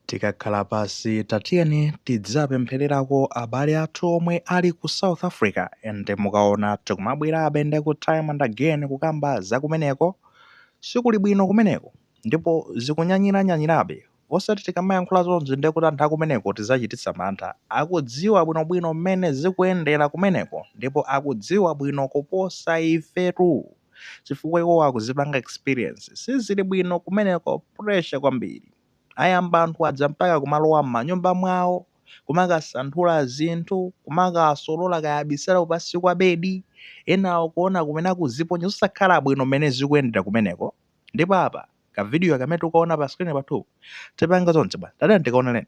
Tikakhala pansi tatiyeni tidzapemphererako abale athu omwe ali ku south africa ende mukaona tikumabwerabe ndi kuti time and again kukamba za kumeneko sikuli bwino kumeneko ndipo zikunyanyiranyanyirabe osati tikamayankhula zonsezi nde kuti anthu akumeneko tizawachititsa mantha akudziwa bwino bwino mmene zikuyendera kumeneko ndipo akudziwa bwino kuposa ifetu chifukwa iwowo akuzipanga experience sizili bwino kumeneko pressure kwambiri. Ayamba anthu aja mpaka kumalowa m'manyumba mwawo, kumakasanthula zinthu, kumakawasolola kaya abisala kupansi kwa bedi, enawo kuona kumene akuziponya zosakhala bwino mmene zikuyendera kumeneko. Ndipo apa kavidiyo kamene tikukaona pa screen pathupa tipanga zonse bwana. Tatiyeni tikaoneleni.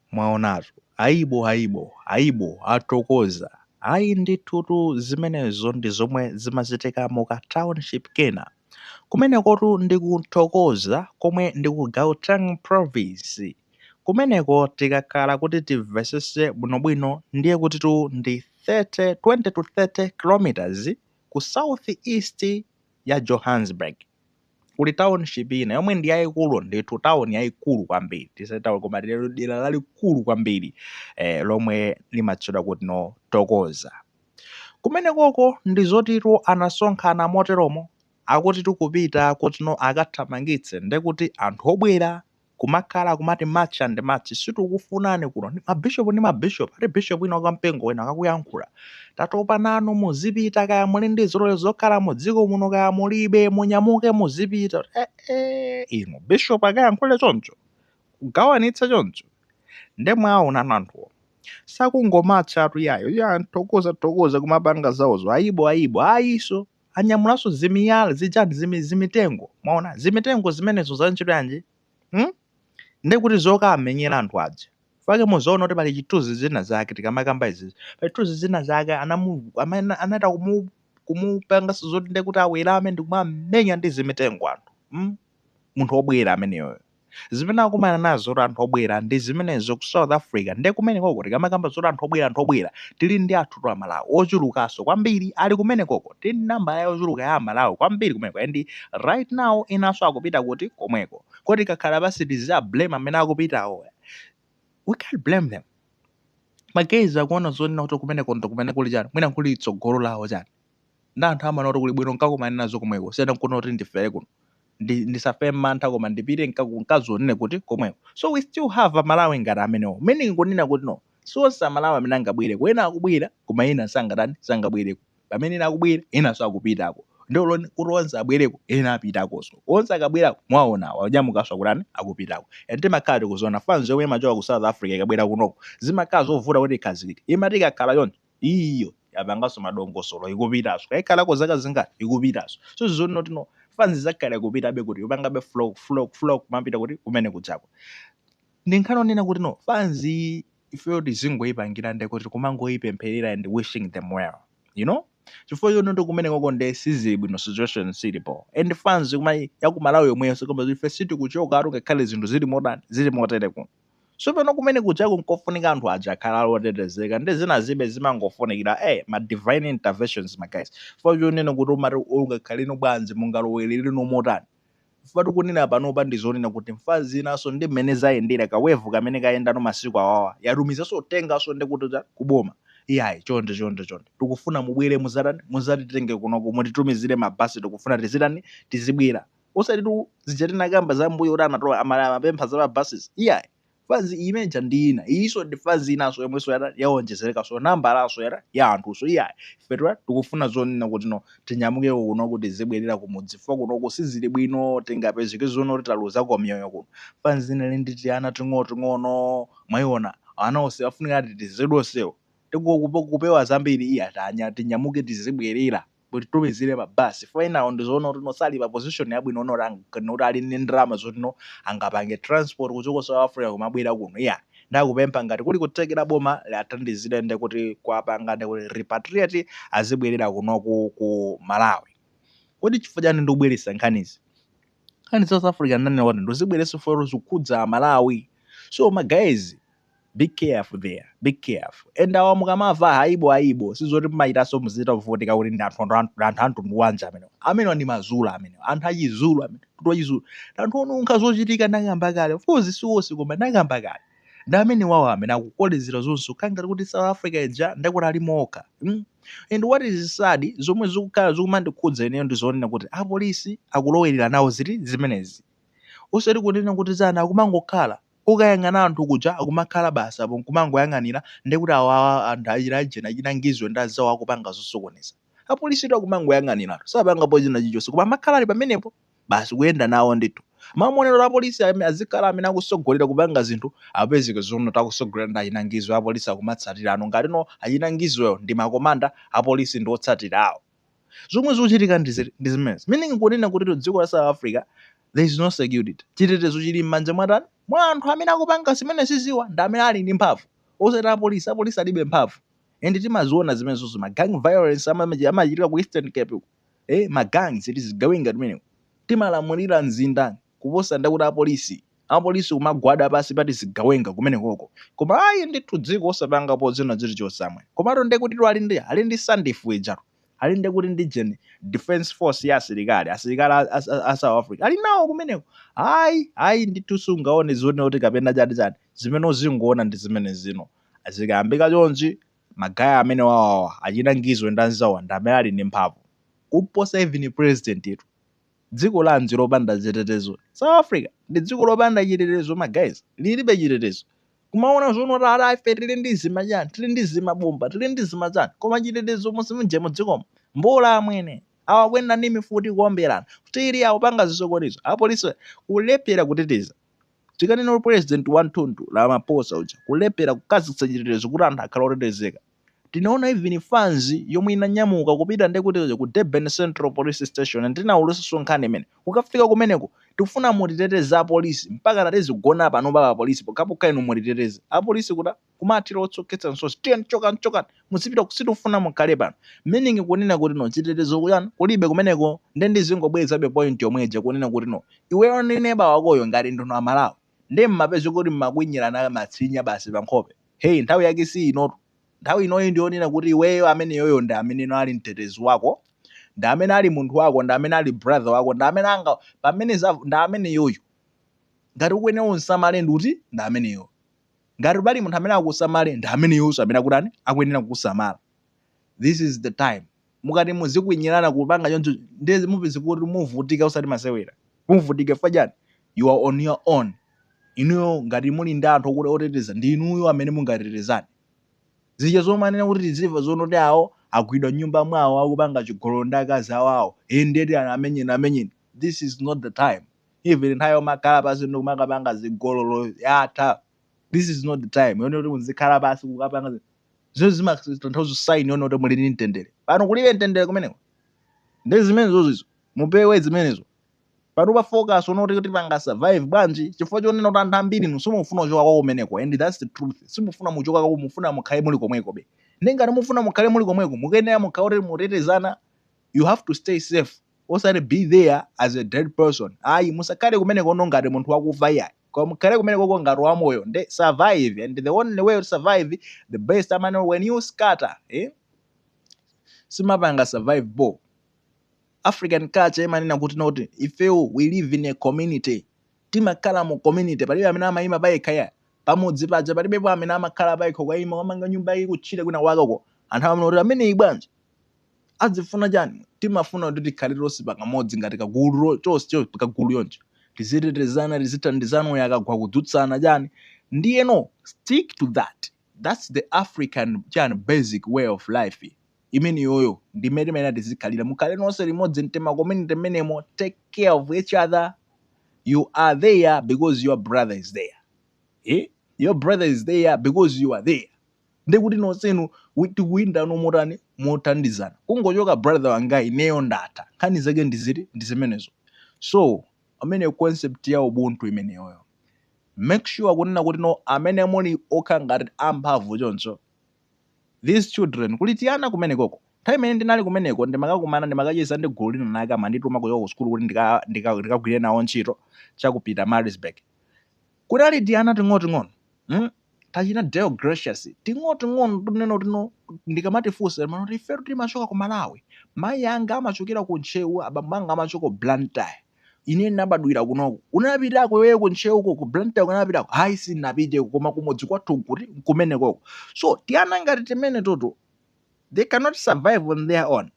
Mwaonatu, aibo, aibo, aibo, a Thokoza, ayi ndithutu zimenezo ndi zomwe zimachitika mu ka township kena. Kumenekotu ndi ku Thokoza komwe ndi ku Gauteng province. Kumeneko tikakhala kuti timvetsetse bwinobwino ndiye kutitu ndi 30, 20 to 30 kilometers ku south east ya Johannesburg. kuli township ina yomwe ndi yayikulu ndithu town yayikulu kwambiri tisati town koma tiye dera lalikulu kwambiri eh, lomwe limatchedwa kuti no Thokoza kumenekoko ndiye zotitu anasonkhana moteromo akuti tikupita kuti no akathamangitse ndekuti anthu obwera kumakhala kumati March and March sitikukufunani kuno ndi ma bishop ndi ma bishop ati bishop wina wa mpingo wina akakuyankhula tatopa nanu muzipita kaya muli ndi zilolezo zokhala mu dziko muno kaya mulibe munyamuke muzipita eh, eh, inu bishop akayankhule choncho kugawanitsa choncho nde mwaona anthuwo sakungomatcha ati iyayi ya a Thokoza Thokoza kumapanga zawozo ayibo ayibo ayiso anyamulanso zimiyala zichani zimi, zimitengo mwaona zimitengo zimenezo za ntchito yanji hmm? ndi kuti zokamenyera anthu aja chifukwa muzaona kuti pali chithunzi zina zake tikamakamba izizi pali chithunzi zina zake anamu amene anachita kumu kumupanganso zoti ndi kuti awerame ndi kumamenya ndi zimitengo anthu hmm? munthu obwera ameneyoyo zimene akumana nazo kuti anthu obwera ndi zimenezo ku south africa nde kumenekoko tikamakamba zoti anthu obwera anthu obwera tili ndi anthutu amalawi ochulukanso kwambiri ali kumenekoko tili ndi nambala yochuluka ya amalawi kwambiri kumeneko and right now enanso akupita kuti komweko kodi tikakhala pansi tiza blame amene akupitawo we can't blame them because akuona zonena kuti kumeneko ndo kumene kuli chani mwina kuli tsogolo lawo chani ndi anthu amaona kuti kuli bwino nkakumane nazo komweko kusiyana nkunena kuti ndifere kuno ndi ndisafe mantha koma ndipite nkaku- nkazionere kuti komweko so we still have amalawi ngati amenewo meaning kunena kuti no si onse amalawi amene angabwereko ena akubwera koma ena sangatani sangabwereko pamene ena akubwera enanso akupitako ndi olo kuti onse abwereko ena apitakonso onse akabwerako mwaona awa onyamukanso akutani akupitako and timakhala tikuziona fanzi yomwe imachoka ku south africa ikabwera kunoko zimakhala zovuta kuti ikhazikike imati ikakhala choncho Iyo yapanganso madongosolo ikupitanso kaya ikhalako zaka zingati ikupitanso so ndizoona kuti no fanzi izakhala ikupitabe kuti ikupangabe flock flock flock kumapita kuti kumene kujaku ndi nkhani onena kuti no fanzi iyi ifeyo tizingoyipangira nde kuti kumangoyipempherera and wishing them well you know chifukwa choti ndi kumenekoko nde sizili bwino situation sili bho and fanzi kuma yakumalawi yomweyo koma ife sitikuchokatu ngakhale zinthu zili motani zili motere kuno So pano kumene kujaku nkofunika anthu aja akhale ali otetezeka ndi zinazibe zimangofunikira eh ma divine interventions ma guys chifukwa chonena kuti umati ungakhaleno bwanji mungaloweleleno motani chifukwa tikunena panopa ndi zonena kuti fanzi inaso ndi mmene zayendera ka wave kamene kayendano masiku awawa yatumizaso uthengaso ndi kuti chani ku boma iyayi chonde chonde chonde tikufuna mubwere muzatani muzatitenge kunoko mutitumizire ma bus tikufuna tizitani tizibwera osatitu zija tinakamba za mbuyo kuti amatola amala amapempha za ma buses iyayi fanzi iyi imene ija ndi ina iyiso ndi fanzi inanso yomwenso yata yawonjezerekanso nambalanso yata ya anthuso iyayi ifetu tikufuna zonena kuti no tinyamukeko kuno kuti tizibwerera kumudzi chifukwa kunoko sizili bwino tingapezeke zoona kuti taluzako miyoyo kuno fanzi inali ndi tiana ting'onoting'ono mwayiona ana onse afunika atetezedwe onsewo tikukupo kupewa zambiri iya tinya- tinyamuke tizibwerera Mutitumizire ma bus chifukwa enawo ndizoona kuti no sali pa position yabwino not not ali ndi ndalama zoti no angapange transport kuchoka ku South Africa kumabwera kuno iyayi. Nde akupempha ngati kuli kuthekera boma liathandizire nde kuti kuwapanga nde kuti repatriate azibwerera kunoku ku Malawi. Kodi chifukwa chani ndikubweretsa nkhanizi? Nkhani za South Africa ndinanena kuti ndizibweretsa chifukwa choti zikukhudza a Malawi. So ma guys, be careful there be careful and awa mukamava haibo haibo sizoti mmachitaso muzichita kuvutika kuti ndi anthu anthu anthu anthu a mtundu wanji amene amene ndi mazulu amene anthu achizulu amene kuti wachizulu anthu onunkha zochitika ndakamba kale of course siwonse koma ndakamba kale ndi amenewowo amene akukolezera zonse kukhala ngati kuti south africa ija nde kuti alimo okha mm? and what is sad zomwe zikukhala zikumandikhudza ineyo ndi zonena kuti apolisi akulowerera nawo zinthu zimenezi osati kunena kuti zana akumangokhala Ukayang'ana anthu kuja akumakhala basi apo nkumangoyang'anira ndiye kuti awo awa anthu achina ujeni achina Ngizwe ndi azawo akupanga zosokoneza. Apolisitu akumangoyang'aniratu sapangapo china chilichonse koma amakhala ali pamenepo basi kuyenda nawo ndithu. M'malo monena kuti apolisi ame azikhala amene akusogolera kupanga zinthu apezeke zoona kuti akusogolera ndi achina Ngizwe apolisi akumatsatirano ngati no achina Ngizwewo ndi makomanda apolisi ndi otsatira awo. zomwe zochitika ndi zimenezo meaning kunena kuti dziko la South Africa there is no security chitetezo chili m'manja mwatani mwa anthu amene akupanga zimenezi ziwawa ndi amene ali ndi mphamvu osati apolisi apolisi alibe mphamvu and timaziona zimenezozo ma gang violence amachitika ku Eastern Cape eh ma gangs tizigawenga timeneko timalamulira mzinda kuposa nde kuti apolisi apolisi kumagwada pansi pa tizigawenga kumenekoko koma ayi ndithu dziko osapangapo zina zilizonse amwene komatu nde kutitu ali ndi ali ndi sandf ijatu ali nde kuti ndi defence force ya asilikali asilikali a, a, a south africa ali nawo kumeneko ayi ayi ndithu sungaone zione kuti kapena chati chani zimene uzingoona ndi zimene zino zikayambika chonchi ma guy amene wawawa achitangizwe ndi anzawo ndi amene ali ndi mphamvu kuposa even president yetu dziko lanji lopanda chitetezo south africa ndi dziko lopanda chitetezo ma guys lilibe chitetezo kumaona zono tata ife tili ndi zimachani tili ndi zimabomba tili ndi zimachani koma chitetezo mulibe mujemu mu dzikomo mbola amwene awa akuyenda ndi mifuti kuomberana tili akupanga zisokonezo apolisi kulephera kuteteza tikanena kuti president wa mtundu Ramaphosa uja kulephera kukhazikitsa chitetezo kuti anthu akhale otetezeka Tinaona even fans yomwe inanyamuka kupita nde kuti ku Durban Central Police Station ndinaulutsanso nkhani imene. Kukafika kumeneko tikufuna mutiteteze a police mpakana tizigona pano pa police pokhapokha inu mutiteteze. A police kuja kumathira utsi okhetsa misozi tiyeni chokani chokani muzipita sitikufuna mukhale pano. Meaning kunena kuti no chitetezo kuchani kulibe kumeneko nde ndizingobwerezabe point yomwe ija kunena kuti no iweyo ndi neba wakoyo ngati ndinu a Malawi Nde mmapezeka kuti mmakwinyilana masinya basi pa nkhope. Hey nthawi yake si inotu. Nthawi inoyi ndi yonena kuti iweyo ameneyoyo ndi amene ali mtetezi wako, ndi amene ali munthu wako, ndi amene ali brother wako, ndi amene anga, pamene za, ndi ameneyoyo. Ngati ukuyenera umsamale ndi uti? Ndi ameneyoyo. Ngati pali munthu amene akusamale, ndi ameneyonso amene akutani? Akuyenera kukusamala. This is the time. mukati muzikwinyilana kupanga choncho nde mupeze kuti muvutika osati masewera muvutika chifukwa chani you are on your own inuyo ngati muli ndi anthu okuti oteteza ndi inuyo amene mungatetezane zija zomanena kuti tizimva zonena kuti awo agwidwa nyumba mwawo akupanga chigololo ndi akazi awo awo e ndiye ati amenyeni amenyeni this is not the time even nthawi yomakhala pansi ndi kumakapanga zigololo yatha this is not the time yonena kuti muzikhala pansi kukapanga zi- zimene zimatanthauza sign yonena kuti muli ndi mtendere pano kulibe mtendere kumeneko ndi zimenezo zizo mupewe zimenezo pano pa focus onena kuti tipanga survive bwanji chifukwa chonena kuti anthu ambiri inu simufuna kuchoka kwa kumeneko and that's the truth simufuna muchoka kwa mufuna mukhale muli komwekobe nde ngati mufuna mukhale muli komweko mukuyenera mukhale kuti mutetezana you have to stay safe osati be there as a dead person ayi musakhale kumeneko ono ngati munthu wakufa iyayi koma mukhale kumenekoko ngati wa moyo nde survive and the only way to survive the best amane when you scatter eh simapanga survive bo african culture imanena kuti noti ifewo we live in a community timakhala mu community palibe amene amayima payekha ayi pamudzi paja palibepo amene amakhala payekha kwayima wamanga nyumba iyi kutchire kwinakwakeko anthu amanena kuti ameneyi bwanji azifuna chani? Timafuna kuti tikhale tonse pakamodzi ngati kagulu tonse kagulu chonchi tizitetezana tizithandizana uyu akagwa kudzutsana chani ndiyeno stick to that that's the African chani basic way of life imeneyoyo ndi mmene timayenera tizikhalira mukhale nonse limodzi m'tima community mmenemo take care of each other you are there because your brother is there eh? your brother is there because you are there ndekuti nonsenu tikuyendano motani mothandizana kungochoka brother wanga ineyo ndatha nkhani zake ndi ziti ndi zimenezo so pamene concept ya ubuntu imeneyoyo make sure kunena kuti no amene muli okha ngati amphamvu choncho these children kuli tiana kumenekoko nthawi imene ndinali kumeneko ndimakakumana ndimakacheza ndi gulu lina lake amandituma kuchoka ku sukulu kuti ndikagwire nawo ntchito cha ku Pietermaritzburg Kunali tiana ting'oting'ono, mm, tachina Deo Gracious, ting'oting'ono tunena kuti no, ndikamatifunsa timanena kuti ifetu timachoka ku Malawi. Mayi anga amachokera ku Ntcheu, abambo anga amachoka ku Blantyre. Ine ndinabadwira kunoku. Unapitako iweyo ku Ntcheuko, ku Blantyre unapitako? Hayi sindinapiteko koma kumudzi kwathu nkuti nkumenekoko. So tiana ngati timenetoto they cannot survive on their own.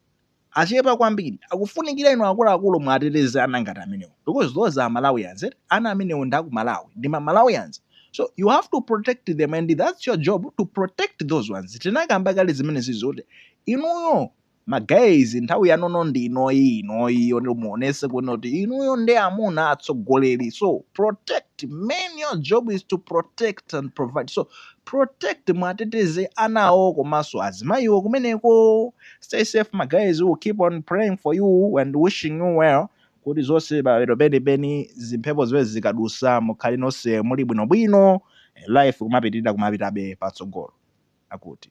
achepa kwambiri akufunikira inu akuluakulu muwateteze ana ngati amenewo because those are Malawians eti ana amenewo ndi aku Malawi ndi ma Malawians so you have to protect them and that's your job to protect those ones tinakamba kale zimenezi zoti inuyo ma guys nthawi yanono ndi inoyi inoyi yoti muonese kuti inuyo ndi amuna atsogoleri so protect men your job is to protect and provide so protect mwateteze anawo komanso azimayiwo kumeneko stay safe ma guys we'll keep on praying for you and wishing you well kuti zonse pamapeto penipeni zimphepo zimenezi zikadusa mukhale nonse muli bwinobwino life kumapitirira kumapitabe patsogolo akuti